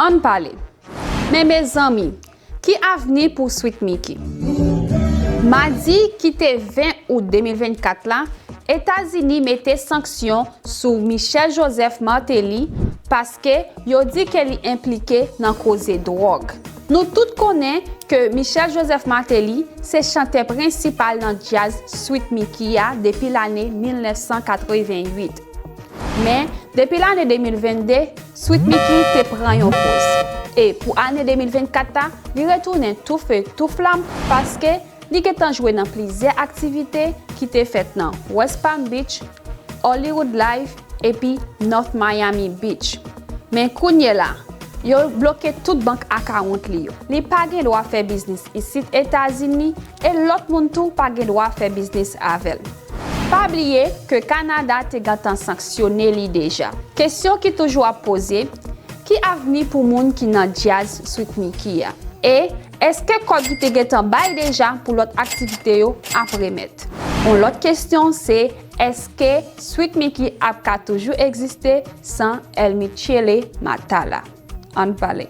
Ann pale Men mezanmi Ki avni pou Sweet Micky? Madi ki te 20 out 2024 la, Etazini mete sanksyon sou Michel Joseph Martelly paske yo di ke li enplike nan koze dwòg. Nou tout konnen ke Michel Joseph Martelly se chantè prensipal nan djaz Sweet Micky a depi lane 1988. Men, depi lane 2022, Sweet Micky te pran yon poz. E, pou ane 2024 a, li retounen tou fe tou flam paske, Li gentan jwe nan plizyè aktivite ki te fèt nan West Palm Beach, Hollywood Life epi North Miami Beach. Men kounyela, yo bloke tout bank akawont li yo. Li pa gen dwa fè biznis isit Etazini e lòt moun tou pa gen dwa fè biznis avè l. Pa bliye ke Kanada te gentan sanksyone li deja. Kesyon ki toujou ap poze, ki avni pou moun ki nan djaz Sweet Micky a? E Èske kòb ki te gentan bay deja pou lòt aktivite yo ap remèt? Yon lòt kesyon se èske Sweet Micky ap ka toujou egziste san El Michele Matala? Ann pale.